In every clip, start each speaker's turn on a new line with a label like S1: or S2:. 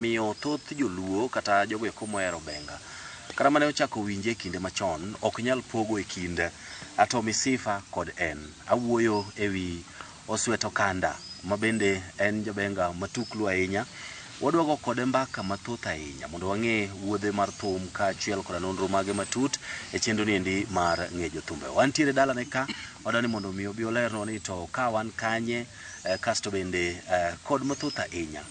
S1: Omiyo thoth joluo kata jogo eko mohero benga kata mane ochako winje e kinde machon ok nyal pogo e kind Ato Misifa kod en. Awuoyo e wi Oswet Okanda ma bende en jabenga matuklu ahinya. Wadwa go kode mbaka mathoth ahinya mondo wang'e wuodhe mar thum kaachiel koda nonro mage matut e chenro ni endi mar Ng'e Jothumbe. Wantiere dalane ka, wadwa ni mondo omi obi olernwa ni to ka wan kanye kasto bende kod mathoth ahinya.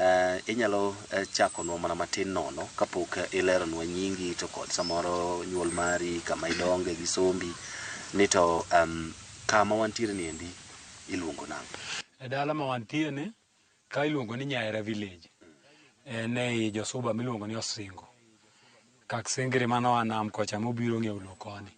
S1: Eh, inyalo eh, chakonwa mana matin nono kapok eh, ileronwa nyingi to kod samoro nyuol mari kama idonge gi sombi ni to em, kama wantiere ni endi iluongo nang' e dala ma wantie
S2: ni ka iluongo ni Nyaera village en ei Josuba miluongo ni Osingo Kak singiri mane oa nam kocha mobiro ong'iewo loo koni.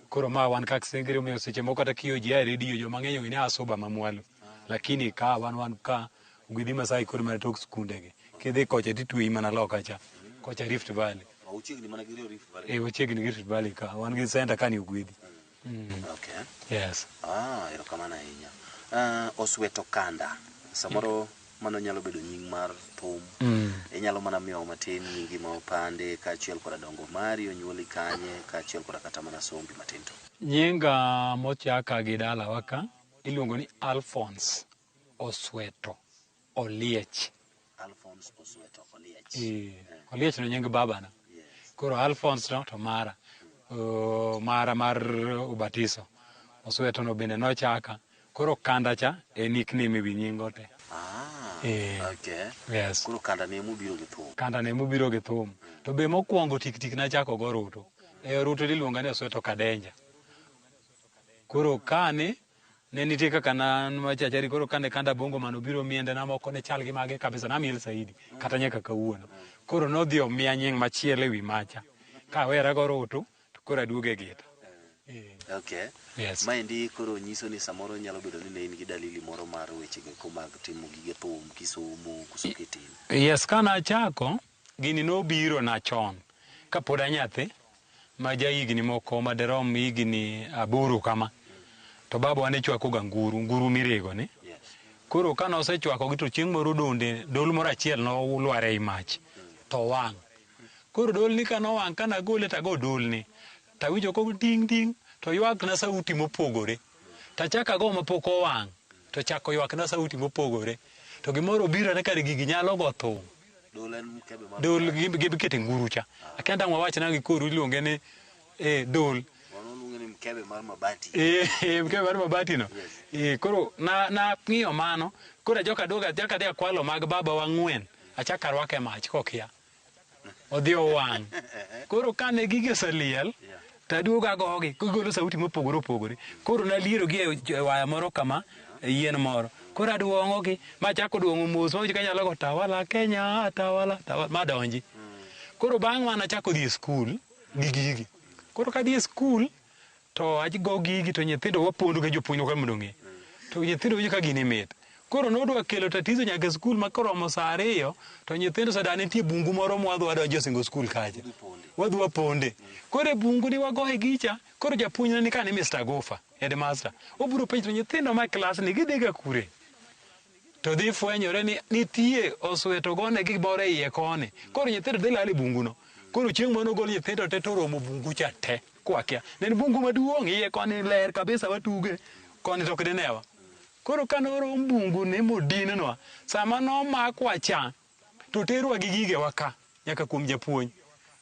S2: Koro ma wan kak singiri omiyo seche moko kata kiyo ji a redio joma ng'eny ong'e ni a suba ma mwalo. Lakini ka wan wan ka Ogwedhi Masai kod mana tok skunde gi. Kidhi kocha titweyi mana loka cha. Kocha Rift Valley. Ochiegni mana gi
S1: Rift Valley. Ee ochiegni gi Rift Valley ka.
S2: Wan gi center ka ni Ogwedhi. Mm. Okay.
S1: Yes.
S2: Ah, erokamano
S1: ahinya. Ah, Osweto Kanda. Samoro mano nyalo bedo nying mar thum. Mm. Inyalo mana miyo matin nyingi ma opande kaachiel koda dongo mari, onyuoli kanye kaachiel koda kata mana sombi matin to. Nyinga
S2: mochaka gi dalawa ka iluongo ni Alphonse Osweto. Oliech. Alphonse
S1: Osweto Oliech. Eh, Oliech no nying
S2: babana. Yes. Koro Alphonse no to mara. Oh, mara mar ubatiso. Osweto no bende nochaka. Koro kanda cha e nickname ewi nyingo te. Ah, Eh.
S1: okay. Yes. Koro
S2: kanda ne mubiro
S1: gi thum. Kanda ne mubiro gi thum.
S2: To be mokwongo tik tik nachako go Ruto. E Ruto iluonga ni Osweto Kadenja. Koro kane ne nitie kaka nan machachari koro kane kanda bongo mano biro miende na moko ne chal gi mage kabisa namiel saidi kata nyaka kawuono koro nodhi omiya nying machielo ewi macha kawera go rutu to koro aduogo e gita eh.
S1: okay yes. maendi
S2: koro nyiso
S1: ni samoro nyalo bedo ni ne in gi dalili moro mar wechego eko mag timo gige thum kisomo koso kitin yes kana
S2: achako gini nobiro na chon kapod anyathi ma jahigni moko madirom higni aboro kama, to babawa ne chwakoga nguru, nguru mirego ni. Koro
S1: ka
S2: nosechwakogi to chieng' moro donde dol moro achiel nolwar ei mach to owang'. Koro dolni ka nowang' ka nagole tago dolni, tawinjo ko ding' ding' to ywakna sauti mopogore. Tachako ago mapok owang' to chako ywakna sauti mopogore. To gimoro obirona ni kare gigi nyalo go thum. Dul en mkebe ma dul gi- gibikete nguru cha akia dang' wawach nang'o gi koru iluonge ni eh, dul Wano luonge ni mkebe
S1: mar mabati. Eh, eh, mkebe mar
S2: mabatino Yes. Eh, koro na- nang'iyo mano koro ajoka aduoga achaka adhi akwalo mag baba wang'wen achako arwake mach kokia odhi owang' koro kane gigi oseliel Yeah. To aduogo agogi, gigolo sauti mopogore opogore. Koro nalierogi e j- e waya moro kama, e yien moro. Koro aduong'ogi, machako duong'o mos, mawinjo ka nyalo go tawala Kenya, tawala, tawala, madonji. Koro bang' mano achako dhi e skul gi gigi. Koro kadhi e skul, to ago gigi to nyithindo wapondo gi jopuonjwa ka mondo ong'e. To nyithindo winjo ka gini mit. Koro nodwa kelo tatizo nyaka e skul ma koromo saa ariyo to nyithindo sada nitie bungu moro ma wadhi wadonjo e singo skul kacha. Wadhi waponde. Koro e bungu ni wagoye gicha, koro japuonj ne ni ka ni Mr. Gufa, headmaster. Obiro penjo to nyithindo ma klas ni gidhi ga kure? To dhi fwenyore ni nitie oswe to gone gi gimoro e iye koni. Koro nyithindo dhi lal e bungu no. Koro chieng' moro nogol nyithindo te to oromo bungu cha te. Kwakia. Ne en bungu maduong' iye koni ler kabisa watuge. Koni to ok dinewa. Koro ka norom bunguni modinwa, sama nomakwa cha, to oterwa gi gigewa ka, nyaka kuom japuonj.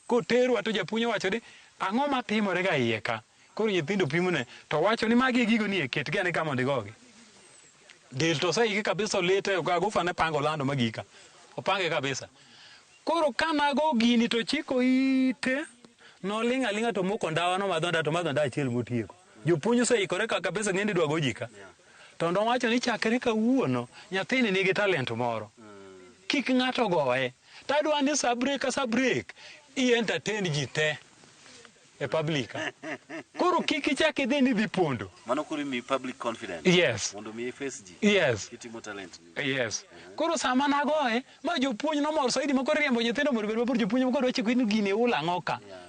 S2: Koterwa to japuonj owacho ni, ang'o matimore ga iye ka? Koro nyithindo pimone, to owacho ni magi e gigo ni e, ketgi ane ka mondo igogi. Del to oseiki kabisa olite, Agufa ne pango lando ma gika. Opange kabisa. Koro ka nago gini to ochiko ite, noling' aling'a to omoko ndawa, nomadho ndawa to omadho ndawa achiel motieko. Jopuonj oseikore ka kabisa ng'eni dwa goji ka. To nowacho ni chakre kawuono nyathini nigi talent moro. Kik ng'ato goye. To adwa ni sa break ka sa break i entertain ji te e public ka. Koro kik ichak idhi ni idhi pondo. Mano koro imiyi public
S1: confidence. Yes. Mondo mi iface
S2: ji.
S1: Yes. Kitimo talent
S2: ni.
S1: Yes. Koro
S2: sama nagoye, ma jopuonj nomor saidi ma koro iriembo nyithindo mondo obed mabor, jopuonj ma koro dwa chiko ni gini ihulo ang'o ka. Yeah.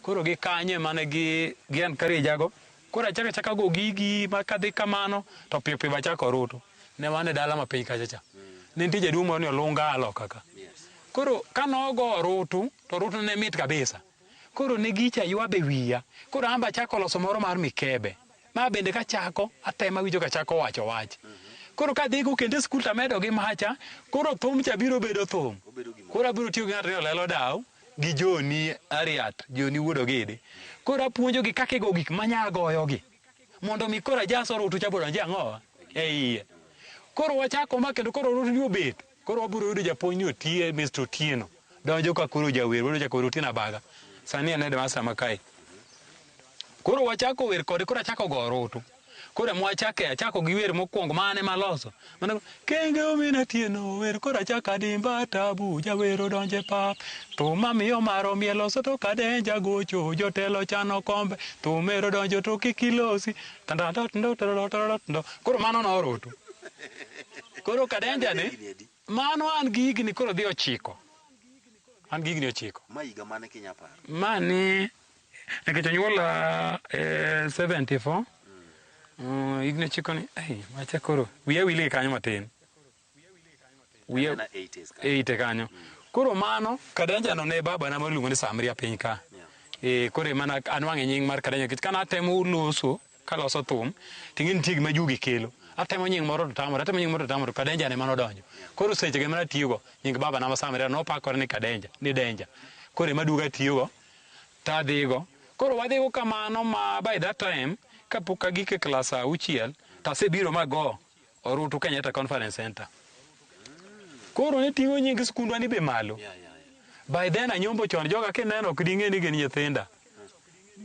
S2: Koro gi kanyo ema ne gi gi encourage ago. Koro achaka chaka go gigi ma kadhi kamano to piyo piyo bachako ruto. Ne wan e dala ma piny kacha cha. Ne nitie jaduong' moro ni olunga aloka ka. Koro kane ogo orutu to orutu ne mit kabisa. Koro ne gicha ywabe wiya. Koro an be achako loso moro mar mikebe. Ma bende kachako atemo awinjo kachako wacho wach. Koro kadhi go kendo e skul to amedo gi macha. Koro thum cha biro bedo thum. Koro abiro tiyo gi ng'ato ni olelo daw. gi Joni Ariat, Joni wuod Ogidi. Koro apuonjogi kaka igo gik ma nya goyogi mondo mi koro ajas orutu cha bodonj e ang'owa e iye. Koro wachako ma kendo koro orutu ni obet. Koro wabiro yudo japuonj ni otie Mr. Otieno. Donjo ka koro jawer wero chako wer Otieno Abaga. Sani en headmaster ma kae. Koro wachako wer kode koro achako go orutu. Koro ema wachake achako gi wer mokwongo ma an ema aloso. Mano kenge omina tieno wer koro achako adimba tabu jawer odonjo e pap. Thum mamiyo mar omiel oso to kadenja gocho jotelo chano kombe thum ero donjo to kik ilosi. Tandandando tandandando. Koro mano noroto. Koro kadenja ni Higni adi? mano an gi higni koro dhi ochiko. An gi higni ochiko. Ma higa mane kinya
S1: paro? Mani
S2: Nikech onyuola e 74 mm, higni ochiko ni ai macha koro wiya wil gi kanyo matin wiya Anena 80s ka. e ite kanyo koro mano kadanja no ne baba na maluongo ni samria piny ka e koro emana anwang'e nying mar kadanja nikech kana atemo loso kaloso thum ting'e nitie gima jugi kelo atemo nying moro to tamore atemo nying moro to tamore to kadanja ne mano odonjo koro seche ge mana tiyogo nying baba na ma samria nopakore ni kadanja ni denja koro ema duoga tiyogo To adhigo. Koro wadhigo kamano ma by that time kapok agik e klas saa auchiel to asebiro ma go Orutu Kenyatta Conference Center. Koro ne ting'o nying skundwa ni be malo. By then anyombo chon joga kineno ok ding'e ni gin nyithinda.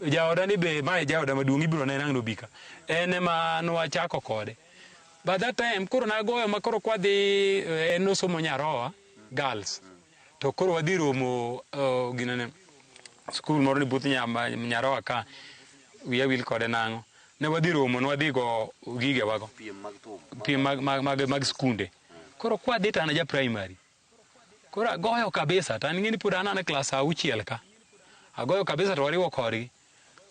S2: Jaoda ni be mae jaoda maduong' ibiro neno ang' nobika. En ema nwachako kode. By that time koro nagoyo ma koro kwadhi eh, en nosomo Nyaroa girls. To koro wadhi romo uh, ginene skul moro ni buth nyaroa ka wiya wil kode nang'o ne wadhi romo ne wadhi go gige wago piem mag, mag, mag, mag skunde koro kwadhi to an ja primary koro agoyo kabisa to an ng'eni pod an an e klas auchiel ka agoyo kabisa to wariwo korgi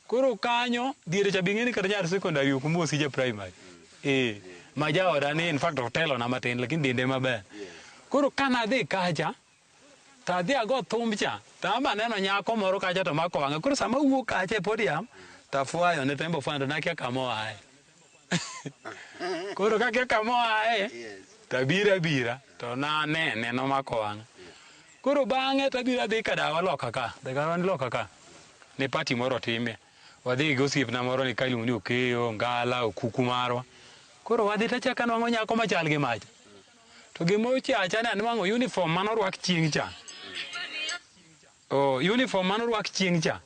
S2: Koro kanyo diere cha bing'eni kata nyar secondary ok mosi ja primary. Eh, ma jaoda ni in fact otelo na matin lakini dende maber. Koro kana adhi kacha to adhi ago thumb cha to ama neno nyako moro kacha to mako wang'a. Koro sama awuok kacha e podium to afwayo ne tembo fwando nakia kama oaye. Koro kake kama oaye Yes. to abiro abira to nanene nomako wang'a. Koro bang'e to abiro adhi ka dawa loka ka, dawa ni loka ka. Ne pati moro timie. Wadhi gi osiepna moro ni kailuongo ni Okeyo, Ngala, Okuku marwa. Koro wadhi to achako anwang'o nyako machal gi macha. To gima ochacha ne anwang'o uniform mane orwak chieng' cha. Oh, uniform mane orwak chieng' cha.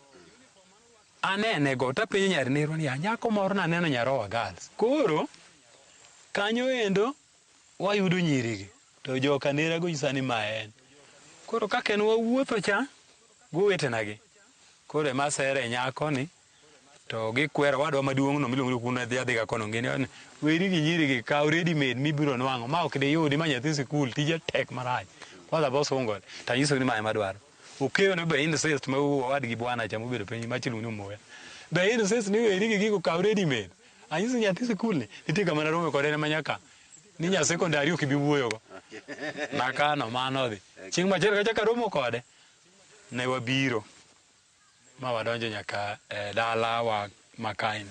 S2: Anene go to apenjo nyar nerwa niya, nyako moro naneno Nyarowa Girls. Koro kanyo endo wayudo nyiri gi. To joka nera go nyisa ni ma en. Koro kaka en wawuotho cha gi owetena gi. Koro ema asere nyako ni to gikwera owadwa maduong' no miluongo ni Okuno adhi adhiga kono ng'e ni weri gi nyiri gi kaw ready made mibiro nwang'o ma ok diyudi ma nyathi sikul tije tek marach. Kwanza bosungore. Tanyisogi ni ma ema adwaro. Ukeyo ni be incest ma owad gi bwana cha mobedo piny mach iluongo ni omoya. Be incest ni weri gi gigo kaw ready made. Anyisi nyathi sikul ni nitie kama narome kode ne manyaka ni nya secondary ok ibi wuoyo go. Nakano mano odhi. Chieng' machielo kachak aromo kode ne wabiro. Ma wadonjo nyaka e dala wa makaeni.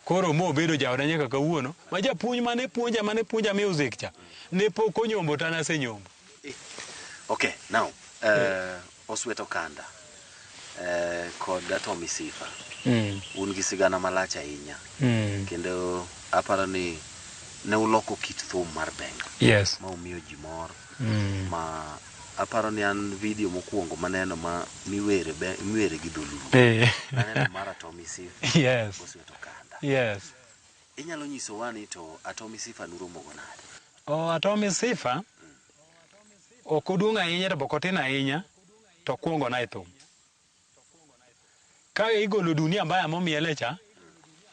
S2: Koro mo obedo jaoda nyaka kawuono. Ma japuonj mane puonja mane puonja music cha. Ne pok onyombo to an asenyombo.
S1: Okay, now, uh, Osweto Kanda uh, kod Atomi Sifa Mm. un gi sigana malach ahinya Mm. kendo aparo ni ne uloko kit thum mar benga Yes. ma umiyo ji
S2: mor
S1: Mm. ma Aparo ni an video mokuongo maneno ma miwere be miwere gi dholuo. Eh. Aneno mara Tommy Sif. Yes. Osweto kanda. Yes.
S2: Inyalo nyiso
S1: wani to Atomi Sifa nuromo go nade? Oh, Atomi Sifa
S2: ok oduong' ahinya to boko tin ahinya to kuongo na e thum. Ka igolo dunia mbaya momiele cha,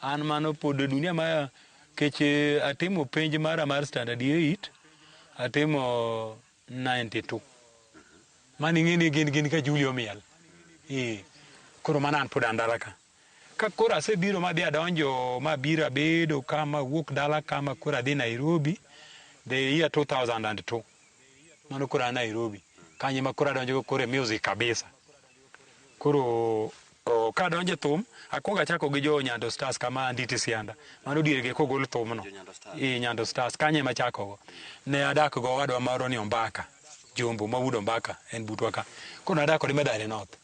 S2: an mano pod dunia mbaya keche atimo penj mara mar standard 8, atimo 92 mani ing'e ni gin gin ka Juli omiel ee koro mana an pod an dala ka ka koro asebiro ma dhi adonjo ma biro abedo ka ma wuok dala ka ma koro adhi Nairobi the year 2002 mano koro an Nairobi kanye ma koro adonjo koro e music kabisa Koro ka donje thum, akwongo achako gi jo Nyando Stars kama Anditi Sianda. Mano diergi kogol thumno. I Nyando Stars kanye ma chakogo. Ne adak go wadwa moro ni Ombaka. Jombo ma wudo Ombaka en butwa ka. Koro nadak kode Madare North.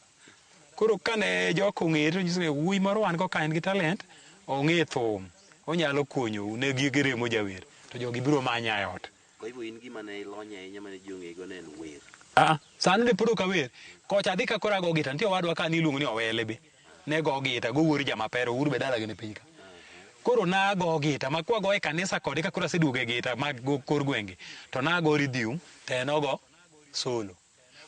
S2: Koro kane joko ong'ere to nyiso wuoyi moro wan go ka en gi talent, ong'e thum. Onyalo konyou ne gi remo jawer. To jogi biro manya e ot. Kwa hivyo in gima ne
S1: ilonye ahinya mane ji ong'eyigo ne en wer. Ah, sani ne pod
S2: ok awer. Kocha adhi ka koro ago gita. Nitie owadwa ka niluongo ni Owele be. Ne go gita, go wuor jamapero, wuor be dalagi ni piny ka. Koro nago gita, ma kwago e kanisa kode ka koro aseduogo e gita ma go kor gwenge, to nago ridhium, to en ogo solo.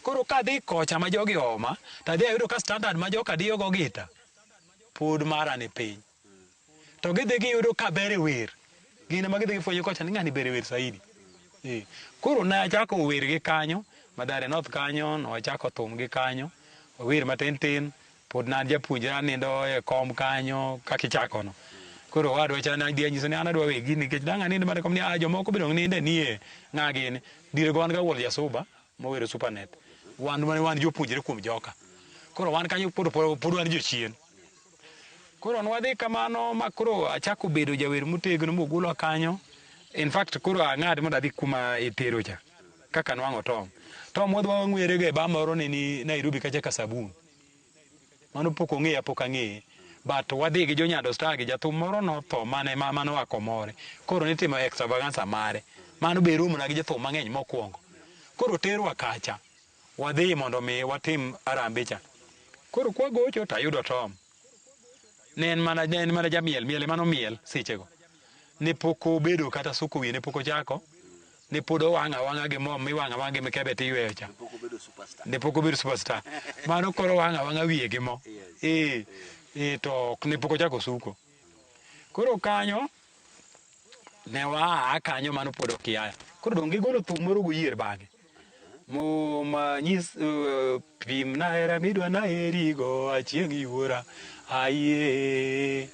S2: Koro kadhi kocha ma jogi ooma, to adhi ayudo ka standard ma joka diyo go gita, pod mara ni piny. to gidhi giyudo ka ber e wer gin ema gidhi gifwenyo kocha ni ng'ani ber e wer saidi Eh, koro ne achako wer gi kanyo madare north kanyo nochako thum gi kanyo wer matin tin pod na japuonjre anindo e kom kanyo kaka ichakono koro wadwa cha ne adhi anyiso ni an adwa we gini nikech dang' anind mana kom ni ah jomoko biro ninde nie ng'a gini dire go wan ga wuol jasuba mowero supernet wan wan wan jopuonjre kuom joka koro wan kanyo pod pod pod wan jochien Koro nwadhi kamano ma koro achako bedo jawer motegno mogula kanyo. In fact koro ang'ad mondo adhi kuma itero cha. Kaka nwang'o Tom. Tom wadwa wang'were ga e ba moro ne ni Nairobi kacha ka sabun. Mano pok ong'eya pok ang'eye. But wadhi gi Jonyado Star gi jathum moro notho mane ma mano a Komore. Koro nitimo extravaganza mare. Mano be romona gi jothum mang'eny mokwongo. Koro terwa kacha. Wadhi mondo mi watim arambe cha. Koro kwagocho to ayudo Tom. Ne en mana, ne en mana jamiel, miel emano miel sechego. Ne pok obedo kata suko wiye, ne pok ochako. Ne pod owang' awang'a gi mo miwang'o awang'a gi mikebe tiyweyo cha. Pok obedo superstar. Ne pok obedo superstar. Mano koro owang' awang'a wiye gi mo. Yes. Eh, eh, to ok ne pok ochako suko. Koro kanyo ne waa kanyo mano pod ok yaya koro donge golo thum moro guyier bang'e muma nyis uh, pim na hera midwa na herigo achieng' yuora aye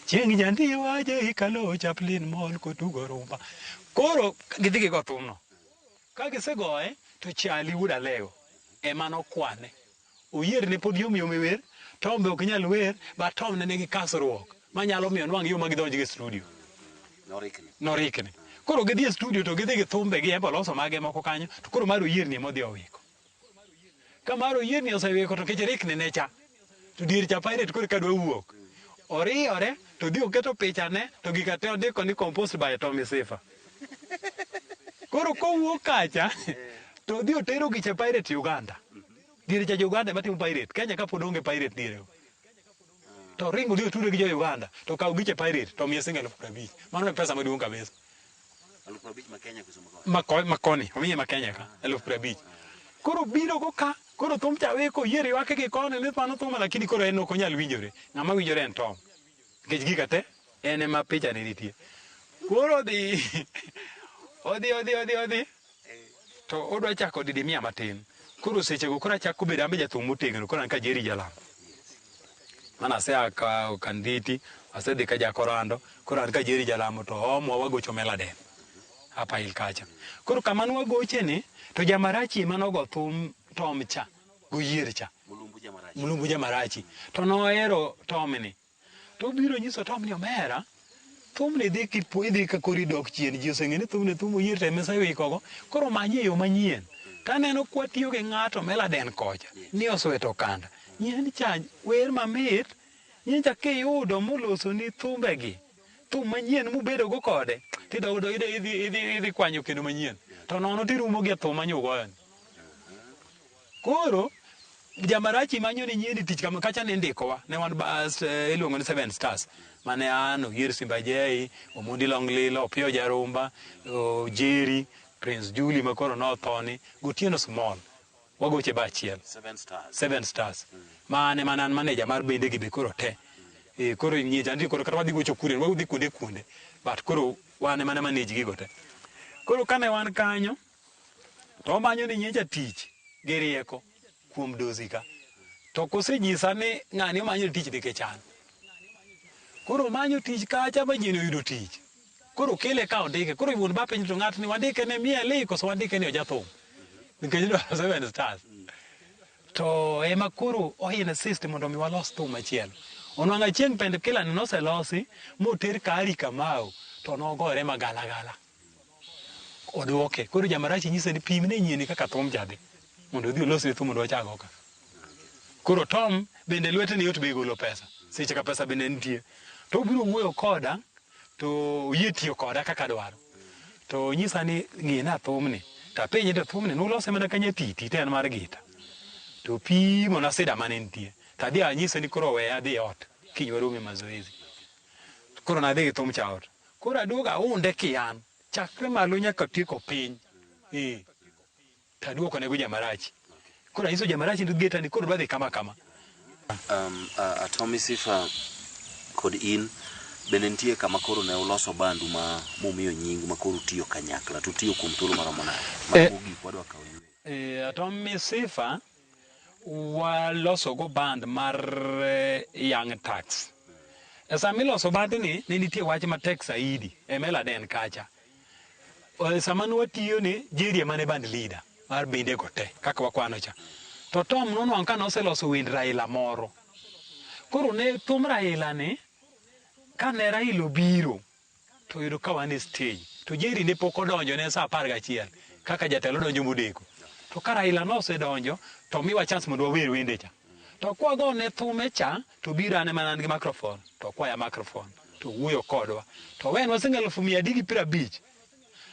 S2: chieng' jandiwa je ikalo chaplin mol kotugo rumba koro gidhi gigo thumno ka gisegoye to chali wuod alego ema nokwane Oyier ne pod yom yom e wer, Tom be ok nyal wer, but Tom ne nigi kasruok manyalo miyo nwang' yoo ma gidonjgo e studio. Norikni. Norikni. Koro gidhi e studio to gidhi gi thumbe gi embe oloso mage moko kanyo to koro mar oyierni ema odhi owiko. Ka mar oyierni osewiko to kech rikni ne cha to dier cha pirate koro ka dwa wuok. Oriyore to dhi oketo pichane to gika te ondiko ni composed by Tommy Sifa. Koro kowuok kacha to odhi otero gi cha pirate Uganda. Diere cha jo-Uganda ema timo pirate. Kenya ka pod onge pirate diere go. To ring odhi otude gi jo-Uganda to kaw giche pirate to omiye sing elfu prabich. Mano e pesa maduong' kabisa. Elfu abich
S1: ma Kenya kusomo koni. Ma ko- ma koni, omiye
S2: ma Kenya ka, elfu prabich. Koro biro go ka, koro thum cha we koyier ywake gi koni ni mano thum lakini koro en ok onyal winjore. Ng'ama winjore en Tom. Nikech gika te en ema picha ne nitie. Koro odhi odhi odhi odhi odhi To odwa chako didi mia matin. Koro sechego koro achako bedo ambe jathum motegno koro an ka Jerry Jalam. Mana asea ka Kandhiti, asedhi ka Jakorando, koro an ka Jerry Jalamo to omo wagocho Meladen. Hapa il kacha. Koro kama ne wagoche ni to Jamarachi ema nogo thum Tom cha, goyier cha. Mulumbu Jamarachi. To nohero Tom ni. To obiro nyiso Tom ni omera. Thumni idhi kipu idhi ka kori dok chien ji oseng'e ni thumni thum oyie to emesa iwikogo. Koro manye yo manyien. To aneno kwa tiyo gi ng'ato meladen kocha ni osweto kanda. Nyien cha wer mamit. Nyien cha kiyudo moloso ni thumbe gi thum manyien mubedo go kode tidogo do idhi idhi idhi kwanyo kendo manyien. To nono tirumo gi thum manyo ugoyo ni. Koro jamarachi manyo ni nyiendi tich kama kacha ne ndikowa ne wan bas eh, iluongo ni seven stars mane an oyier simba jei omundi longlilo opiyo jarumba jeri prince juli makoro nothoni gotieno small wagoche ba achiel seven stars, seven stars. Mm. mane mane an maneja mar bende gi be koro te mm. e, koro nyie chandri koro kata wadhi gocho kuren wadhi kuonde kuonde but koro wane mana maneji gigo te koro kane wan kanyo to omanyo ni nyecha tich gi rieko kuom dosi ka to kosenyisa ni ng'ani omanyo tich nikech an koro omanyo tich kacha ma ji noyudo tich koro kele ka ondike koro iwuon ba piny to ng'atni wandike ne mieli koso wandike ni ojathum nikech dwaro seven stars to ema koro ohin assist mondo mi walos thum machielo onwang' achieng' pend kilani noselosi moter kari kamau to nogore magalagala Oduoke. Koro jamarachi nyise ni pim ne nyieni kaka thum cha dhi. Mondo odhi olos ne thum mondo wachak oka. Koro Tom bende lwete ni yot be golo pesa. Seche ka pesa bende nitie. To obiro wuoyo koda to oyie tiyo koda kaka dwaro. To nyisa ni ng'e na thum ni. To apenje to thum ni nulose mana kanya titi to en mar gita. To pimo na sida mane nitie. To adhi anyise ni koro we adhi ot. Kiny warome mazoezi. Koro nadhi gi thum cha ot. Koro aduogo aunde kian chakre malo nyaka tieko piny ee to aduoko nego jamarachi koro anyiso jamarachi ni geta ni koro dwa dhi kama kama Um, a-
S1: Atomi Sifa kod in bende nitie kama koro ne uloso bandu ma mumiyo nying ma koro utiyo kanyakla to utiyo kuom thuolo maromo nade? Eh. Mano mogik wadwa kawo ywe. eh, Atomi
S2: Sifa walosogo band mar eh, Young Tax. E sama iloso bandni, ne nitie wach matek saidi e Meladen kacha. Eh, Sama ne watiyo ni Jerry ema ne band leader mar bende go te kaka wakwano cha. To Tom nonwang' ka noseloso wend Raila moro. Koro ne thum Raila ni kane Raila obiro to yudo ka wan e stage to Jerry ne pok odonjo ne saa apar gachiel kaka jatelo donjo modeko to ka Raila nosedonjo to miwa chance mondo wawer wende cha to kwago ne thume cha to biro ane mana an gi microphone to kwaya microphone to wuoyo kodwa to wen waseng'eyo elfu mia adek gi piero abich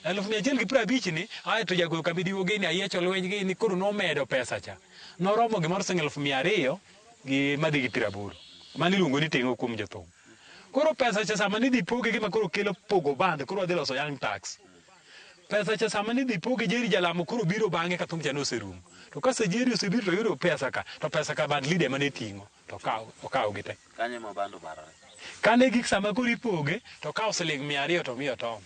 S2: Eluf mia achiel gi piero abich ni ae to jagoyo kambi diwo gini ayiecho lweny gini koro nomedo pesa cha. Noromo gimoro sing eluf mia ariyo gi madhi gi piero aboro. Mani iluongo ni tengo kuom jothum. Koro pesa cha sama nidhi poge gima koro kelo pogo band koro wadhi loso young tax. Pesa cha sama nidhi poge Jerry Jalamo koro biro bang'e ka thum cha noserumo. To kase Jerry osebiro to yudo pesa ka to pesa ka band leader mane ting'o. to okawo okawogi te. Kanyo ema bando
S1: barore. Kane gik sama
S2: koro ipoge to okawo siling mia ariyo to omiyo Tom.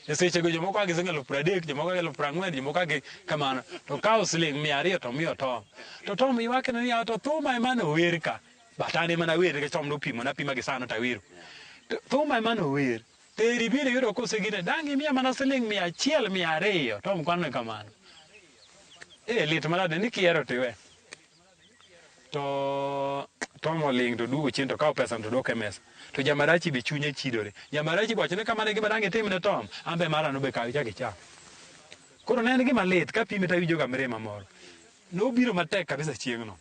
S2: E sechego jomoko a gi siling eluf pradek, jomoko a gi eluf prang'wen, jomoko a gi kamano. To okawo siling mia ariyo to omiyo Tom. To Tom ywakne niya, to thuma ema nower ka. But an ema nawer nikech Tom nopimo, napima gi sano tawero. To thuma ema nower. Teri biro yudo kosegine, dang' imiya mana siling mia achiel mia ariyo, Tom kwanone kamano. Eh, lit manade ni kihero to iwe. to Tom oling to duogo chien to kawo pesa to dok e mesa. To Jamarachi be chunye chidore. Jamarachi boche ne kamane gima dang' itim ne Tom, an be mara nobe kaw ichak icham. Koro ne en gima lit ka pime to awinjo ga mirima moro. Nobiro matek kabisa chieng'no.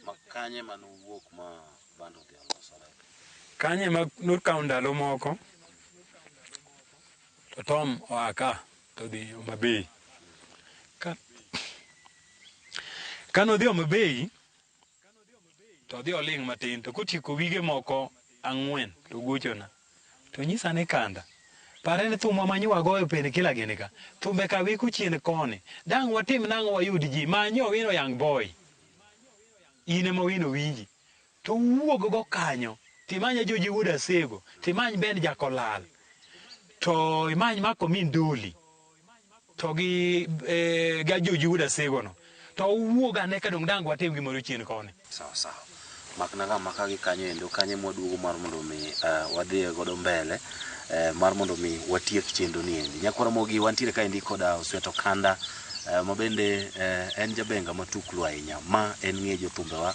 S2: Ma kanye
S1: ma nowuok ma bando odhi olosore? Kanye ma
S2: nokawo ndalo moko to Tom oa ka. To dhi Homa Bay. Ka kano dhi Homa Bay to dhi oling' matin to kotieko wige moko ang'wen to gochona to nyisa ni kanda pare ni thumwa manyiwa goyo pene kila gini ka thumbe ka wiko chien koni dang' watim nang'o wayud ji manyo wino young boy in ema wino winji To wuog go kanyo, to imany Ajoji wuod Asego, to imany Ben Jakolal, to imany Mark Omin Doli, to gi eh, gi Ajoji wuod Asego no. To uwuog ane ka dong' dang' watim gimoro chien koni. Sawa sawa.
S1: Makna ga maka gi kanyo endo, kanyo ema waduogo mar mondo mi eh, wadhiye godo mbele eh, mar mondo mi watiek chenro ni endi. Nyakwar Mogi wantiere ka endi koda Osweto Kanda eh, ma bende eh, en jabenga matuklu ahinya. Ma en ng'e jothumbewa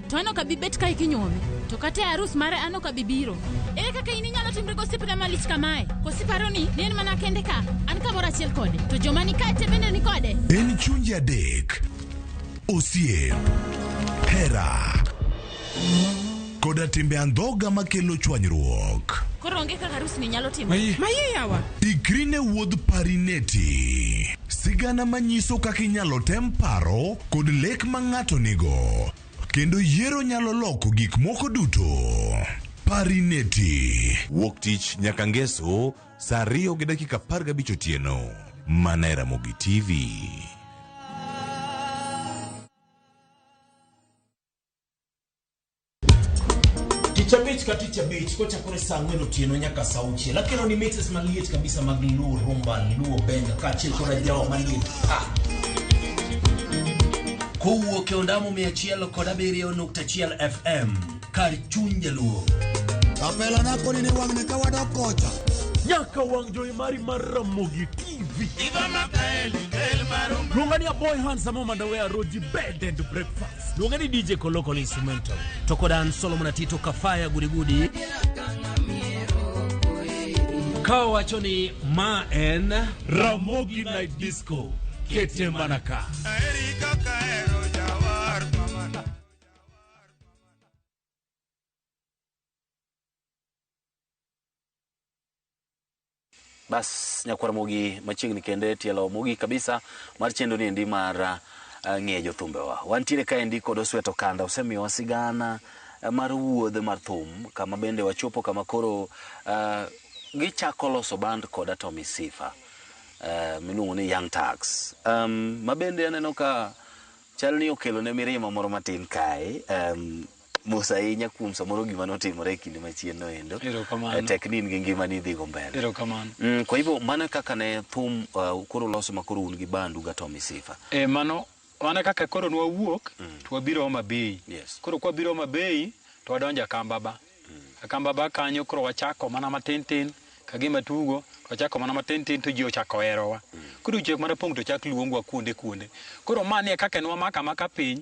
S3: to an ok abi bet kae kinyuome to kata e arus mare an ok abi biro ere kaka in inyalo timre gosiepna malich kamae kosiparo ni ne en mana kende ka an kamoro achiel kode to joma ni kae te bende ni kode En chunje
S4: adek. Osiep, hera, koda timbe andhoga makelo chwanyruok. koro onge kaka arus
S3: ni nyalo timo Mayie yawa.
S5: Ikri ne wuodh
S4: parineti. Sigana manyiso kaka inyalo tem paro kod lek ma ng'ato nigo, kendo yiero nyalo loko gik moko duto. Parineti. Wuok tich nyaka ngeso sa ariyo gi dakika apar gabich otieno mana e Ramogi TV.
S6: Tich abich ka tich abich kochakore saa ang'wen otieno nyaka saa auchiel akelo ni mixes maliet kabisa mag luo rumba luo benga kaachiel koda jawa maliet ah. kowuok e ondamo mia achiel kod abiriyo nukta achiel fm kar chuny jaluo Kapela
S7: napoli ni wang'ne ka wadok kocha. nyaka wang'
S6: jowi mari mar ramogi tv luonga ni aboy hansa momanda wea roji bed and breakfast Luonge ni DJ Kolokolo Instrumental to kod an Solomon Atito Kafaya Gudigudi ka wacho ni ma en Ramogi Night Disco kete mana ka. Erika Kaero Jawar Mamana.
S1: Bas nyakwar mogi machiegni kende tielo mogi kabisa mar chendo ni endi mar ah, ng'e jothumbewa. Wantiere ka endi kod Osweto Kanda osemiyowa sigana eh, mar wuodh mar thum kama bende wachopo kama koro ah, gichako loso band koda Tommy Sifa eh, miluongo ni Young Tax. Um, ma bende aneno ka chal ni okelo ne mirima moro matin kae. Um, Mos ahinya kuom samoro gima notimore e kinde machienno endo. Erokamano. Eh, Tek ni in gi ngima ni idhigo mbele. Erokamano. Mm, kwa hivyo mano e kaka ne thum uh, koro loso ma koro un gi bandu ga Tommy Sifa. E, mano
S2: wana kaka koro nwawuok mm. to wabiro Homa Bay. Yes. Koro kwa biro Homa Bay to wadonjo Akambaba. Mm. Akambaba kanyo koro wachako mana matin tin ka gima tugo to wachako mana matin tin to ji ochako herowa. Mm. Koro chiek mana pong' to chak luongwa kuonde kuonde. Koro mani e kaka nwamaka maka piny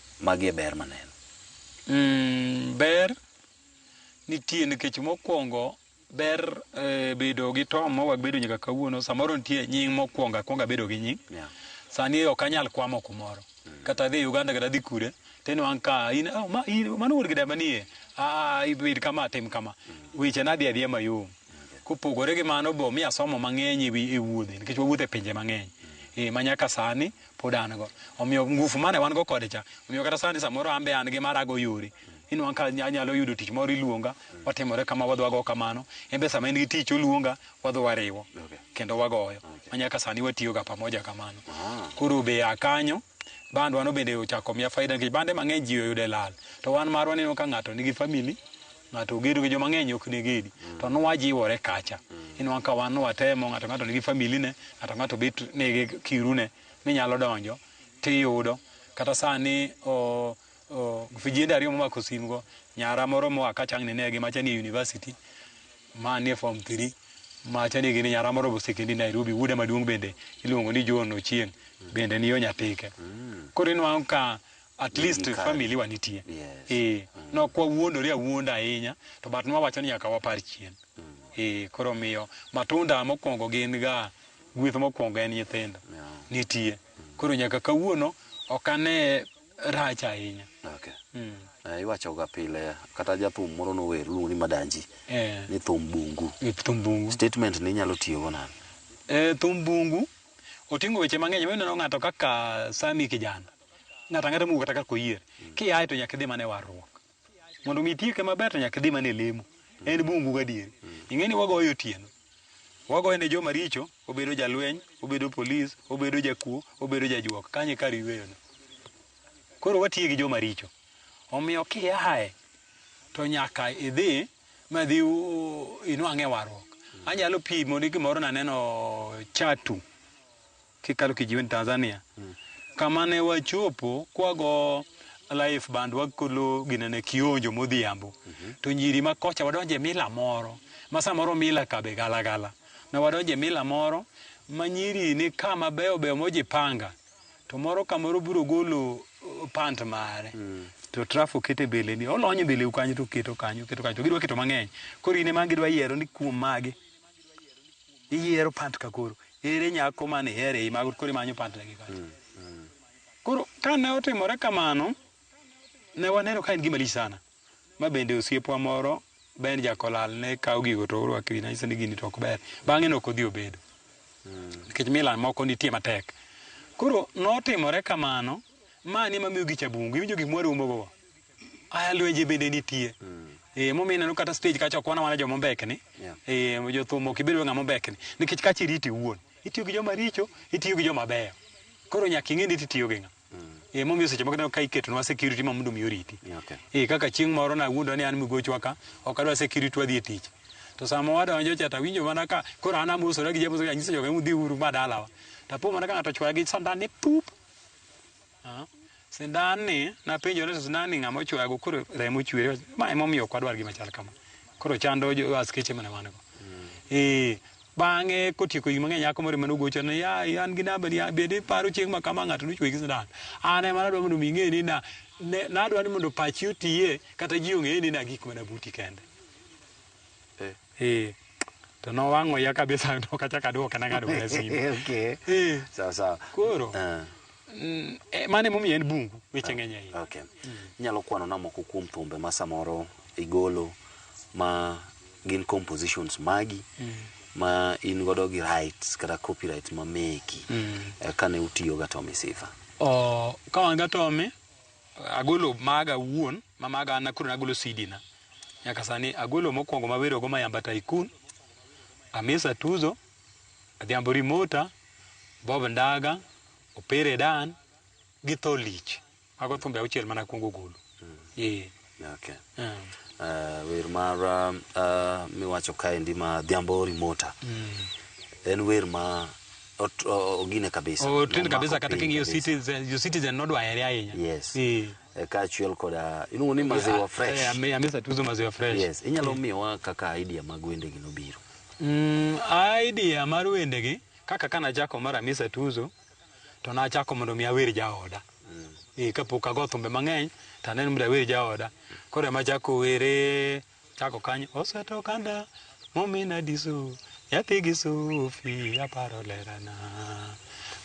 S1: Magi e ber maneno. Mm,
S2: ber nitie nikech mokwongo ber eh, bedo gi tom ma wabedo nyaka kawuono samoro nitie nying mokwongo akwongo abedo gi nying Yeah. sani ok anyal kwamo kumoro kata dhi uganda kata dhi kure teno an ka in oh, ma, in, mano wuod gida manie ah, ibed kama tim kama weche nadhi adhiya mayom kopogore gi mano bo mi asomo mang'eny e wi- e wuodhe nikech wawuotho e pinje mang'eny e, ma nyaka sani pod an go omiyo ngufu mane wan go kode cha omiyo kata sani samoro an be an gi mara go yore inwang' ka nya- anyalo yudo tich moro iluonga watimore kama wadwago kamano en be sama en gi tich oluonga wadhi wariwo Okay. kendo wagoyo Okay. manyaka sani watiyoga pamoja kamano Ah. koro be a kanyo bandwa no bende ochako miya faida nikech bande mang'eny ji oyude lal to wan marwa neno ka ng'ato nigi famili ng'ato ogedo gi joma ng'eny ok negedi to nwajiwore kacha inwang' ka wan nwatemo ng'ato ng'ato nigi familine ng'ato ng'ato bet nigi kirune minyalo donjo tiyudo kata sani o, o, vijende ariyo momako simgo nyara moro moa kacha ang' ninegi macha ni e university ma ni e form 3 macha ni gini nyara moro bosekendi Nairobi wuoda maduong' bende iluongo ni John Ochieng' bende ni yo Nyatike koro inwang' ka at Ni least gikare. family wa nitie Yes. eh no kwa wuondore awuonda ahinya to but nwawacho ni nyaka wapar chien eh koro miyo matunda mokwongo gin ga gweth mokwongo en nyithindo Yeah. nitie koro nyaka kawuono ok ane rach ahinya Okay. Mm. Eh,
S1: iwachoga pile kata jathum moro nower luongo ni madanji eh ni thum bungu e thum bungu statement ni inyalo tiyogo nani e thum bungu
S2: oting'o weche mang'eny mineno ng'ato kaka sami kijana ng'ato ang'ata mowuok kata kar koyier kiaye to nyaka idhi mana e warruok mondo mi itieke maber to nyaka idhi mana e lemo en bungu gadieri ing'e ni wagoyo otieno wagoyo ne joma richo obedo jalweny obedo polis obedo jakuo obedo jajuok kanye kar yueyono koro watiye gi joma richo omiyo kiaye to nyaka idhi madhi inwang'e warruok anyalo pimo ni gimoro naneno chatu kikalo kijiweni Tanzania mm. kama ne wachopo kwago life band wakolo ginene kionjo modhiambo mm -hmm. to nyiri ma kocha wadonje mila moro ma samoro mila kabe galagala na wadonje mila moro ma nyiri ni kama beyo beyo mojipanga to moro kamoro biro golo uh, pant mare mm. to trafo kete bele ni olonyo bele ukanyo to keto kanyo keto kanyo to gidwa keto mang'eny koro ine ma gidwa yiero ni kuom mage iyiero pant ka koro ere nyako mane ihere ei mago koro imanyo pant ne gikacha mm, mm. koro kane otimore kamano ne waneno ka en gima lich sana ma bende osiepwa moro Ben Jakolal ne kawo gigo to orwako wi nanyise ni gini to ok ber bang'e ne ok odhi obedo mm. nikech mm. milan moko nitie matek koro notimore kamano mani mamiyo gi chabungu iwinjo gik mwarumogogo Aya lwenje bende nitie. Eh, momiyo ineno kata stage kacha ok wana wana joma ombekni. Yeah. Eh, jothum ok ibed ng'ama ombekni. Nikech kacha iriti iwuon. Itiyo gi joma richo, itiyo gi joma beyo. Koro nyaka ing'e ni itiyo gi ng'a. Eh, momiyo seche moko ineno ka iketonwa security ma mondo mi oriti. Yeah, okay. Eh, kaka chieng' moro nawuondwa ni an migochwa ka, ok adwa security wadhi e tich. To sama wadonjo cha tawinjo mana ka koro an amosora gi jamoso anyiso joga ni udhi uru ma dalawa. Tapo mana ka ng'ato ochwaya gi sandan ni pup. Sindan ni napenjo ni to sindan ni ng'ama ochwago koro remo chwere ma ema omiyo ok wadwar gima chal kama koro chando jo askeche mana wan go eh bang'e kotieko higni mang'eny nyako moro ema nogocho ni ya ya, an gi namba ni ya, bende iparo chieng' ma kama ng'ato nochwe gi sindan an ema nadwa mondo mi ing'e ni na ne- nadwa ni mondo pachi otiye kata ji ong'e ni na gik mana buti kende Eh. To nowang'o ya kabisa ok achak aduoke na ng'ado mana simu. okay. Eh. Sawa sawa.
S1: Koro. Uh. Mm,
S2: eh, mane momiyo en bungu weche ng'eny ahinya. Okay. Mm. Nyalo
S1: kwano na moko kuom thumbe ma samoro igolo ma gin compositions magi mm. ma in godo gi rights kata copyright ma meki mm. Eh, kane utiyo ga Tommy Sifa. Oh, ka wan
S2: ga Tommy agolo maga wuon ma maga an akuru nagolo CD na. Nyaka sani agolo mokwongo mawerogo Mayamba Tycoon, Amisa Tuzo, Adhiambo Rimota, Bob Ndaga, Opere Dan gi Tho Lich. Mago thumbe auchiel mana kwongo golo. Ee.
S1: Okay. Mm. Uh, wer mar uh, uh, miwacho kaendi ma Dhiambo Rimota en wer ma ot- o- ogine kabisa. Otin kabisa Nomako kata piny king'iyo
S2: kabisa. Citizen, jo Citizen nodwa here ahinya. Yes. Ee.
S1: eh, kaachiel koda iluongo ni maziwa Eh, fresh ame- amesa tuzo maziwa
S2: fresh yes inyalo miyowa
S1: kaka idea mag wendegi nobiro Mm,
S2: idea mar wendegi kaka ka nachako mar amisa tuzo to nachako mondo mi awer jaoda Eh, kapok ago thumbe mang'eny to aneno mondo awer jaoda koro ema achako were Chako kanyo oseto kanda momina diso nyathi gi sufi aparo lerana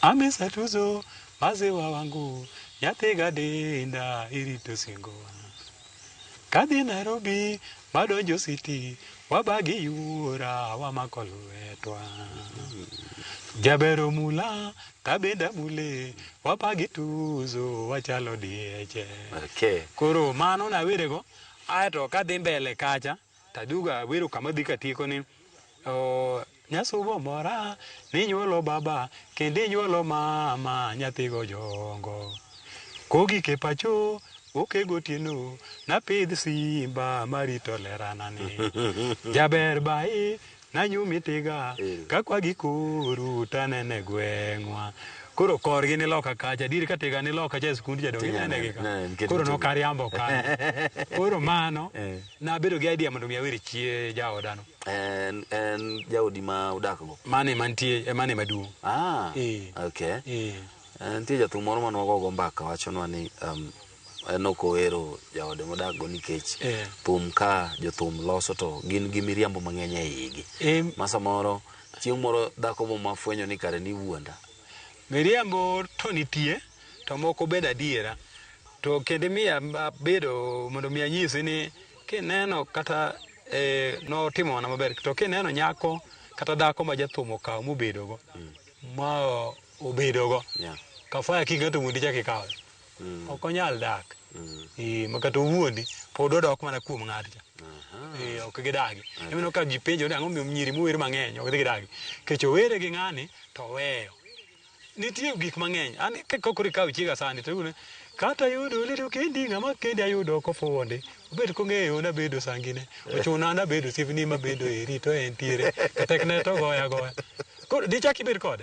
S2: amisa tuzo maziwa wangu nyathi gadinda irito singowa kadhi Nairobi madonjo siti wabagi yuora wamako lwetwa jabero mula tabenda mule wabagi tuzo wachalo dieche okay. koro mano nawerego Ae to ka adhi mbele kacha to aduogo awero kama adhi katieko ni oh, nyasubo mora ninyuolo baba kendo inyuolo mama nyathigo jongo kogik e pacho oke gotieno napidh simba marito leranani jaber bai Nanyumi tiga ka kwa gi kuru tanene gweng'wa. Koro korgi ni loka kacha, dir ka tiga ni loka cha e skund jadongi nene gi ka. Koro nok ariambo ka. Koro mano, nabedo gi idea mondo mi awer chie jaodano. En, en
S1: jaodi ma udakgo? Mane mantie, e
S2: mane maduong'. Ah,
S1: okay. Nitie jathum moro mane wagogo mbaka wachonwa ni um, aneno kowero jaode modak go nikech Eh. thum ka jothum loso to gin gi miriambo mang'eny e igi Em. ma samoro chieng' moro dhako mo mafwenyo ni kare ni wuonda miriambo
S2: to nitie to moko bed adiera to kendo miya abedo mondo mi anyisi ni kineno kata eh, notimo mana maber to kineno nyako kata dhako ma jathum okawo mobedogo ma obedogo Yeah. kafaya king'ato wuondi chak ikawe Mm. ok onyal dak Mm. Eh, ma kata owuondi pod odok mana kuom ng'atcha Aha. Eh, ok gidagi emeno ka ji penjo ni ang'o miyo nyiri mower mang'eny ok dhi gidagi kech owere gi ng'ani to weyo nitie gik mang'eny an ka- ka koro ikawo chiega sani to iyudo ni, kata yudo lero kendi ng'ama kendi ayudo kofuwo ndi obet kong'eyo nabedo sangine ochuna nabedo sivni mabedo eri to entiere to tekne to goya goya koro dichak ibed kode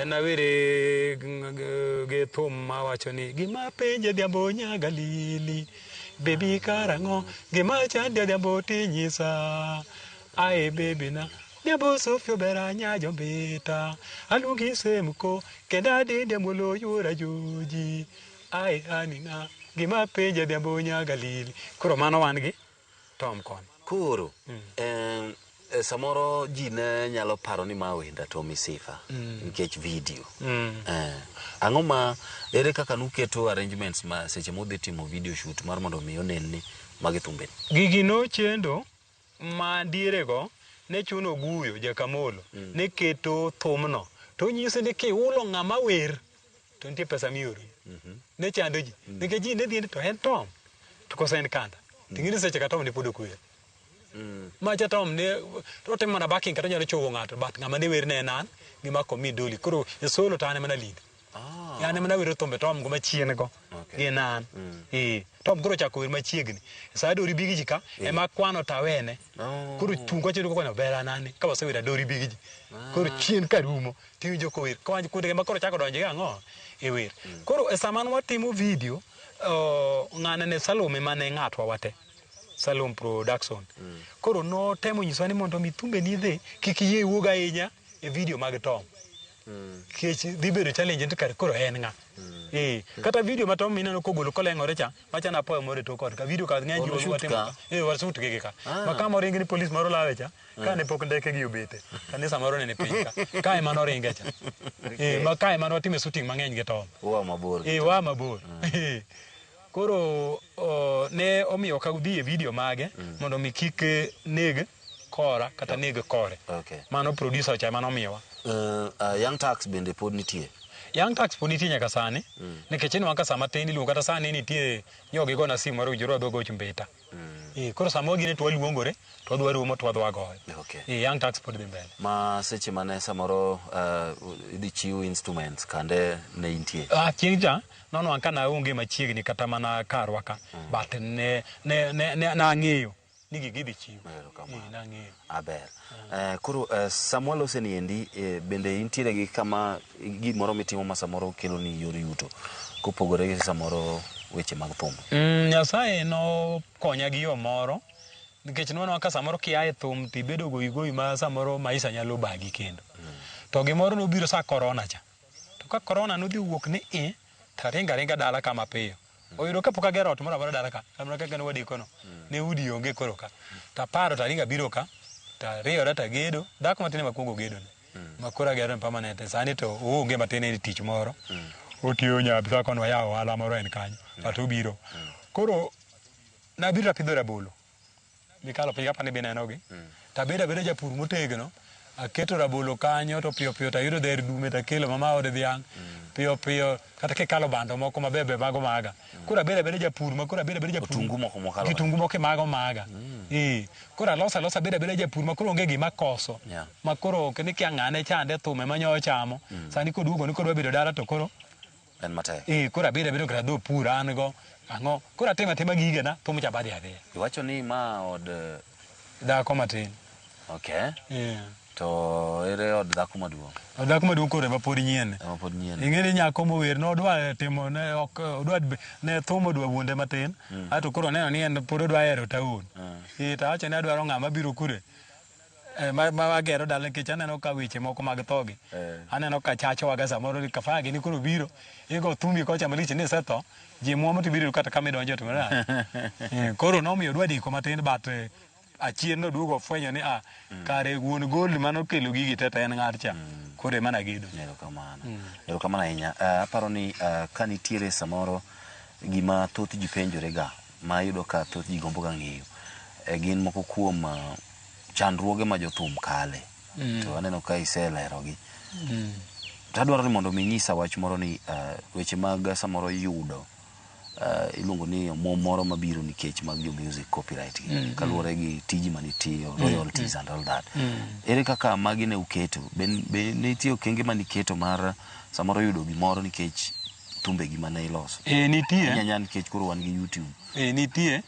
S2: En awere gi thum ma wacho ni gima penje dhiambo nyaga lili bebi karang'o gima chande dhiambo tinyisa ae bebi na dhiambo sofio bera nyajo mbita aluongi semko kendo adinde mulo yuora joji ae anina gima penje dhiambo nyaga lili koro mano wan gi Tom kon. Koro
S1: em, eh, samoro ji ne nyalo paro ni ma wenda to misifa nikech video. Eh, Ang'o ma ere kaka nuketo arrangements ma seche mudhi timo video shoot mar mondo mi onen ni magi thumbe. Gigi nochendo
S2: ma dierego ne chuno Guyo Jakamolo ne keto thumno to nyisi ni kihulo ng'ama wer to nitie pesa mioroni ne chando ji nikech ji ne dhiende to en tom to koso en kanda ting'eni seche ka tom ne pod okwer macha tom ne otimo mana baking kata onyalo chogo ng'ato but ng'ama ne wer ne en an gi mako mi doli koro e solo to an ema nalinde Ah, yani mana wero thumbe tom go machien go Okay. gi nan ee tom koro chako wer machiegni sa adori bigi ji ka ema kwano tawene Oh. koro chungo chedo kono bera nani ka wasewera adori bigi ji koro chien ka rumo tiwinjo kower kawinj kudege ma koro chako donjo gi ang'o e wer koro e sama watimo video oh, ng'ane ne salome mane ng'atwa wate salom production koro notemo nyisowa ni mondo mi thumbe ni dhi kik yie iwuog ahinya e video mag tom kech dhi bedo challenge to kar koro en ng'a Eh, kata video ma tom mineno kogolo koleng'ore cha machana apoyo moro e tok ot ka video ka ng'eny Ono ji shoot watimo ka? ka. Eh, wasut gigi ka Ah. ma kama oringi ni polis moro lawe cha kane pok ndeke gi obete kanisa moro nene piny ka kae mano ringe cha eh ma kae mano time shooting mang'eny gi tom Uwa mabor. eh wa
S1: mabor
S2: Eh, koro o, ne omiyo ka udhi e video mage mondo mi kik eh, neg kora kata neg kore Okay. mano producer cha mano miyowa Uh, uh, young
S1: tax bende pod nitie. Young Tax pod nitie
S2: nyaka sani nikech inwa ka sama tin iluongo kata sani nitie nyogi gona simu mar ujuru adogo chumbeta Mm. Eh, koro samoro gine to waluongore to wadwa romo to wadwa goyo. Okay. Eh, young tax pod dhi mbele. Ma seche mane
S1: samoro uh, idhi chiw instruments kande ne intie. Ah, chieng' cha
S2: nono anka na onge machiegni kata mana karwa ka. Mm. But ne ne ne, ne, ne ang'eyo ni gigi dhi chiw. Eh, nang'eyo. Aber. Eh,
S1: koro eh, sama walose ni endi eh, bende intiere gi kama gimoro mitimo ma samoro kelo ni yor yuto kopogore gi samoro weche mag thum. Mm, Nyasaye
S2: nokonya gi yo moro nikech nwanwa ka samoro kia e thum to ibedo goyi goyi ma samoro maisha nyalo bagi kendo. To gimoro nobiro sa korona cha. To ka korona nodhi wuok ni i, taringa ringa dala kama piyo. oyudo kapok agero ot moro amora dala ka kamna kaka ne wadikono ne udi onge koro ka taparo taringa biro ka tariyora tagedo dhako matin ema kuongo gedo ma koro agero en permanent e sani to oonge matin en tich moro otiyo nyabisa kono wayawo ohala moro en kanyo but obiro koro nabiro apidho rabolo mikalo piny kapani binenogi mm. tabedo abeda japur motegno aketo rabolo kanyo to piyo piyo tayudo dher dume takelo mama ode dhiang' mm. piyo piyo kata kikalo bando moko mabeyo be mago maga mm. koro abeda abeda japur ma koro abeda abeda japur kitungu moko mokalo kitungu moko mago maga mm. eh koro alosa losa abeda abeda japur ma koro onge gima koso yeah. ma koro kene kia ng'ane chande thume manyo chamo mm. sani koduogo ni koro bedo dala to koro En matek.
S1: Eh, koro abedo abedo kata dho
S2: pur an go. Ang'o? Koro atimo atima gigena, thum cha badhi adhiya. Iwacho ni ma
S1: od eh, Dhako
S2: matin. okay. Eh. To
S1: ere od dhako maduong'? Od dhako maduong' koro ema
S2: pod nyien. Ema pod nyien. Ing'e ni nyako mower ne odwa timo ne ok odwa ne thum odwa wuonde matin. Ato koro oneno ni en pod odwa hero taon. Eh, to awacho ni adwaro ng'ama biro kure eh, ma, ma agero dala nikech aneno ka weche moko mag thogi Eh. aneno ka chachowaga samoro ni kafaya gini koro biro igo thumbi kocha malich ni isetho ji muomo to ibiro yudo kata kama idonjo to na Eh, koro nomiyo dwa deko matin but eh, achien noduogo ofwenyo ni ah, kare wuon gold mane okelo gigi teta en ng'at cha koro ema nagedo erokamano
S1: erokamano ahinya Ah, aparo ni ah, ka nitiere samoro gima thoth ji penjorega ma ayudo ka thoth ji gombo ga ng'eyo e gin moko kuom ah, chandruoge ma jothum kale to aneno ka iselerogi to adwaro ni mondo mi inyisa wach moro ni ah, weche mag ah, samoro yudo ah, iluongo ni omwom moro mabiro nikech mag jo music copyright gi kaluwore gi tiji manitiyo royalties and all that ere kaka magi ne uketo be be ne nitie okenge maniketo mar samoro yudo gimoro nikech thumbegi ma ne iloso. Eh, nitie. Inya nyal nikech
S2: koro wan
S1: gi YouTube. Eh, nitie.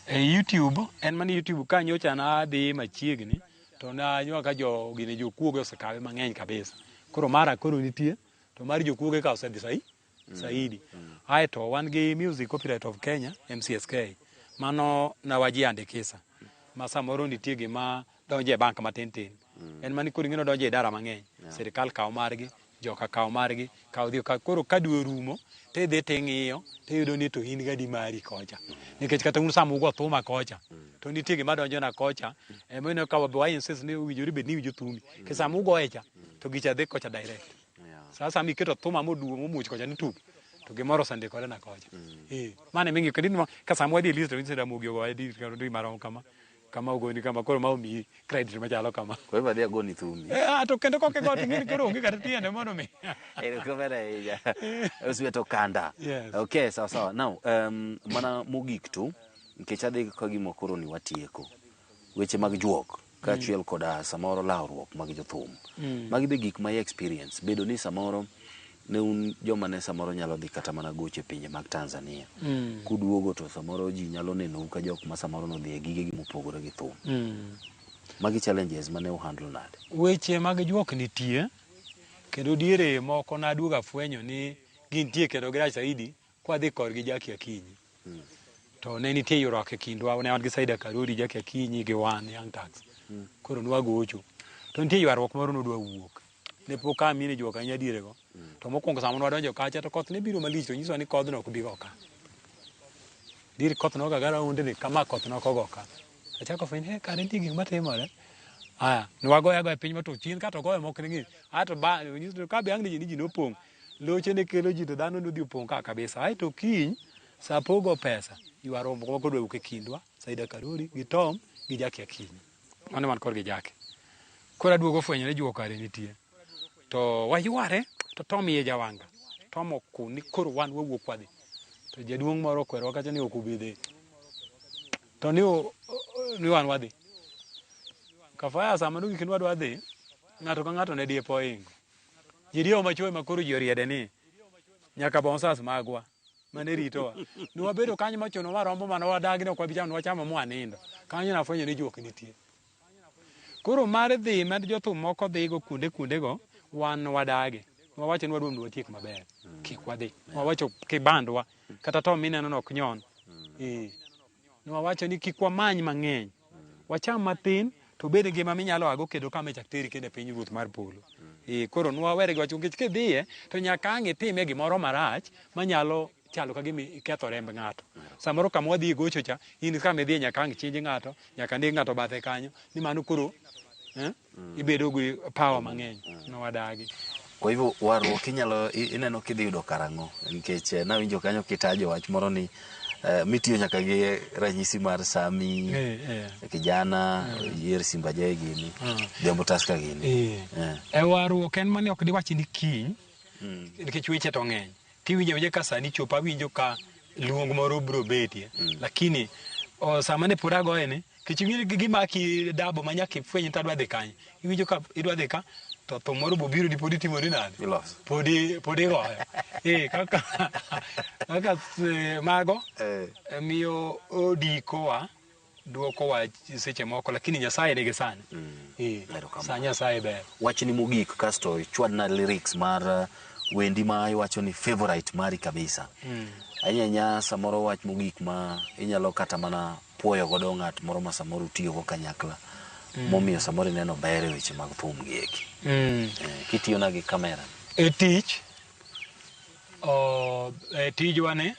S2: Eh, YouTube, en mana YouTube ka nyocha nadhi machiegni to nanywa ka jo gine jokuoge osekawe mang'eny kabisa. Koro mara koro nitie to mar jokuoge ka osedhi sai saidi. Ae to wan gi Music Copyright of Kenya, MCSK. Mano na wajiandikisa. Ma samoro nitie gima donjo e bank matin tin mm. en mani koro ing'eno donjo e dara mang'eny yeah. sirikal kawo margi joka kawo margi kawo dhi koro ka dwe orumo to idhi to ing'iyo to iyudo ni to in gadi mari kocha mm. nikech kata un sama ugo thuma kocha mm. to nitie gima donjona kocha emoineno ka wa insist ni owinjore bed ni iwinjo thumi mm. ke sama ugoye cha to gicha dhi kocha direct yeah. saa sama iketo thuma moduo momuch kocha ni tuk to gimoro osendikore na kocha mm. eh, mane ming'e kendo ka sama wadhi e list to instead amogi ogoye di marom kama kama ogoni kama koro ma omiyi credit machalo kama Koro ibadhi agoni thumi.
S1: Eh, ah, to kendo koke got
S2: ing'eni koro onge kata tiende mondo mi Erokamano ahinya.
S1: Oswet Okanda. Yes. Okay, sawa sawa. Now, um, mana mogik tu nikech adhi ka gima koro ni watieko. Weche mag juok kaachiel koda samoro lawruok mag jothum. Magi be gik ma i experience bedo ni samoro ne un joma ne samoro nyalo dhi kata mana gocho e pinje mag Tanzania. Mm. Kuduogo to samoro ji nyalo nenou ka jok ma samoro nodhi e gigegi mopogore gi thum. Mm. Magi challenges mane uhandle nade? Weche mag juok
S2: nitie kendo diere moko naduogo afwenyo ni gintie kendo girach saidi Kwadhi korgi Jackie Akinyi, to ne nitie ywaruok e kindwa, ne wan gi Saida Karori, Jackie Akinyi gi wan Young Turks. Koro nwagocho. To nitie ywaruok moro nodwa wuok. Ne pok a mine juok ahinya dierego. To mokwongo sama nwadonjo kacha to koth ne biro malich to nyisowa ni kodhno ok bi go ka. Dier koth noga ga raundni kama koth nok ogo ka. Achako fwenyo ni he kare nitie gik matimore. Aya, nwagoyo agoya piny ma to chien ka to ogoyo mok ning'i. Ato ba, nyiso ni ka be ang' ni ji nopong'. Loche ne kelo ji to dhano nodhi opong' ka kabisa. Aeto kiny saa pogo pesa ywa rombo moko dwe wuok e kindwa, Saida Karori gi Tom gi Jaki Akinyi. Mano man kor gi Jaki. Koro aduogo fwenyo ni juok are nitie. To wayware to Tom iye jawanga. Tom okun ni koro wan wawuok wadhi. To jaduong' moro okwerowa kacha ni ok ubi dhi. To ni, ni wan wadhi. Kafaya sama nogik ni wadwa dhi, ng'ato ka ng'ato ne dipo oingo. Ji diyo machoe ma koro ji oriede ni nyaka bonsas magwa mane ritowa. Nwabedo kanyo machuno ma rombo mane wadagi ne ok wabi chamo, nwachamo mwanindo. Kanyo nafwenyo ni juok nitie. Koro mar dhi ma jothum moko dhigo kuonde kuondego, wan wadagi. Nwawacho ni wadwa mondo watiek maber. Kik wadhi. Nwawacho kibandwa. Kata to mineno ni ok nyon. Eh. Ne wawacho ni kik wamany mang'eny, wacham mathin to bed ngima minyalo ago kendo kama ichak teri kendo e piny ruoth mar polo. Eh, koro nwawere gi wach nikech kidhiye to nyaka ang' itime gimoro marach manyalo chalo ka gima iketho remb ng'ato. Samoro kama wadhi gocho cha, in kama idhiye nyaka ang' chinj ng'ato, nyaka neg ng'ato bathe kanyo, ni mano koro eh? mm. ibedo gi power mm. mang'eny mm. ma wadagi kwa hivyo
S1: warruok inyalo ineno kidhi yudo karang'o nikech eh, nawinjo kanyo kitajo wach moro ni Uh, mitiyo nyaka gi ranyisi mar sami hey, eh, hey. Eh. kijana hey. yier simba jae gini uh. dembo taska gini hey. yeah. e warruok
S2: en mani ok diwachi ni kiny mm. nikech weche to ng'eny Kiwinjo awinja ka sani chopo awinjo ka luong moro bro betie. Mm. Lakini o, sama ne pod agoye ni kech ing'e gi gima ki dabo ma nyaka ifweny ta dwa dhi kanye. Iwinjo ka idwa dhi ka to thum moro bo biro di pod itimo ni nade? Iloso. Pod i- pod igoyo. Eh kaka kaka eh, mago Eh. eh, miyo odikowa dwoko wach seche moko lakini nyasaye nigi sane Eh, Erokamano. sa nyasaye ber wachni mogik kasto
S1: ichwadna lyrics mar uh, wendi ma iwacho ni favorite mari kabisa ahinya ahinya samoro wach mogik ma inyalo kata mana puoyo godo ng'at moro ma samoro utiyogo kanyakla momiyo samoro ineno ber e weche mag thum gi eki mm. Eh, kitiyona gi kamera e tich
S2: o, e tijwa ni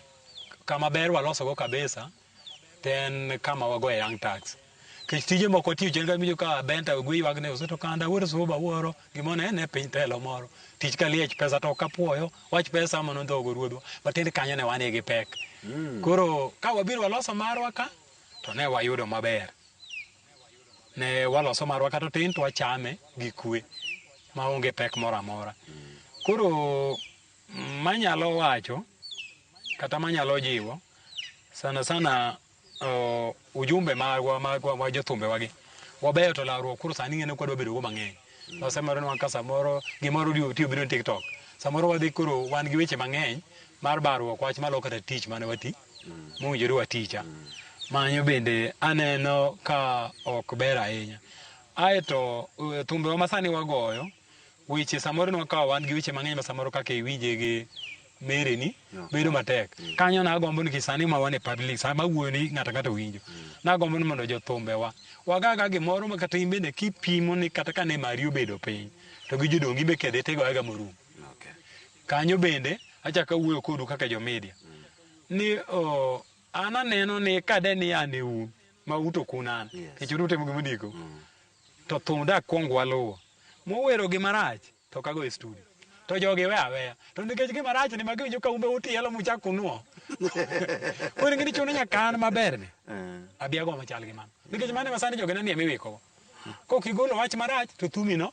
S2: kama ber walosogo kabisa then kama wago e young tax kech tije moko tiyo chen ka mijo ka benta gwe ywag ne useto kanda wuoto suba wuoro gimone ne ne piny telo moro tich ka liech pesa to kapuoyo wach pesa mano ndhogo ruodhwa matiende kanyo ne wane gi pek hmm. koro ka wabiro waloso marwa ka to ne wayudo maber ne waloso marwa kata tin to wachame gi kwe maonge pek moro amora hmm. koro Manyalo wacho kata manyalo jiwo sana sana uh, ujumbe magwa magwa ma jothumbewagi wabeyo to lawruok koro sani ng'ene kwadwa bedogo mang'eny nosemore nwa ka samoro gimoro odiwo tiyo biro ni tiktok samoro wadhi koro wan gi weche mang'eny mar barruok wach malo kata tich mane wati mowinjore waticha manyo bende aneno ka ok ber ahinya aeto uh, thumbewa masani wagoyo weche samoro nwa kawa wan gi weche mang'eny ma samoro kaka iwinje gi mereni No. bedo matek Mm. kanyo nagombo ni kisani ma wan e public sama awuoyo ni ng'ato ang'ata owinjo nagombo ni mondo jothumbewa wagaga gimoro ma kata in bende kipimo ni kata kane mari obedo piny to gi jodongi be kedhe tigoyaga morum Okay. kanyo bende achako awuoyo kodu kaka jomedia ni oh, an aneno ni kade ni an e un ma uto kun an Yes. kech utimo gimodiko Mm. to thum da kwong waluwo. Mowero gi marach to kago e studio. To jogi we aweya. To nikech gi marach ni magi winjo ka umbe utielo muchak kunuo. Koro ingini chuno nyaka an maber ni. Eh. Abi ago machal gi mano. Nikech mano masani jogi nani emiwiko. Kok igolo wach marach to thumi no.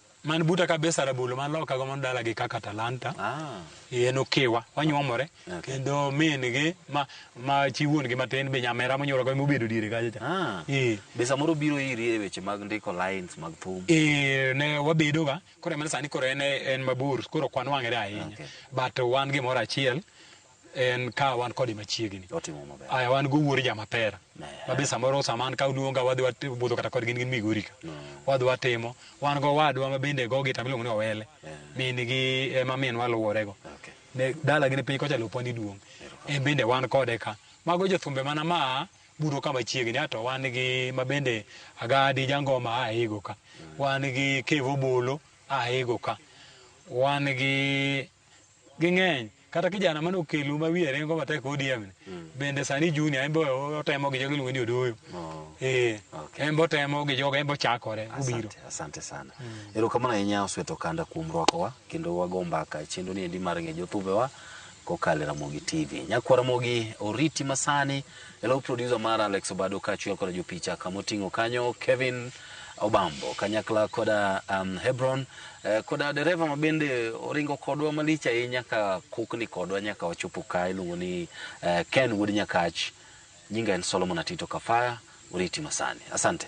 S2: man buta kabisa rabolo man loka go man dala gi kaka talanta ah. en okiwa wanyuomore okay. kendo min gi ma ma chi wuon gi matin be nyamera monyuolo go mobedo diere kacha cha ah. e. be samoro biro
S1: iri e weche mag ndiko lines mag thum e, ne
S2: wabedo ga koro emane sani koro en en mabor koro kwan wang'ere ahinya okay. but wan gimoro achiel en ka wan kode machiegni otimo maber aya wan go wuor jamapera Ne. ma be samoro sama an ka oluonga wadhi wabudho kata kodgi gin migori ka wadhi watimo wan go wadwa ma bende go gita miluongo ni owele min gi ema min waluworego Okay. ne dala gi ne piny kocha lopwa ni duong en bende wan kode ka mago jothumbe mana ma buro ka machiegni ato wan gi ma bende agadi jangoma a ego ka wan gi kevo bolo a ego ka wan gi ging'eny kata kijana mane okelu ma wiye ringo matek ODM ni mm. bende sani junior en be otemo gi jogo iluongo ni odoyo oh. eh okay. en be otemo gi jogo en be ochakore obiro asante, asante sana
S1: mm. erokamano ahinya osweto kanda kuom rwakowa kendo wago mbaka chenro ni endi mar ng'e jothumbewa kokalo e Ramogi TV nyakwara Ramogi oriti masani Hello producer mar Alex Obado kaachiel koda jopicha kama oting'o kanyo Kevin Obambo kanyakla koda um, Hebron eh, koda dereva ma bende oringo kodwa malich ahinya ka kukni kodwa nyaka wachopo ka iluongo ni eh, Ken Wuod Nyakach nyinga en Solomon Atito Kafaya oriti masani asante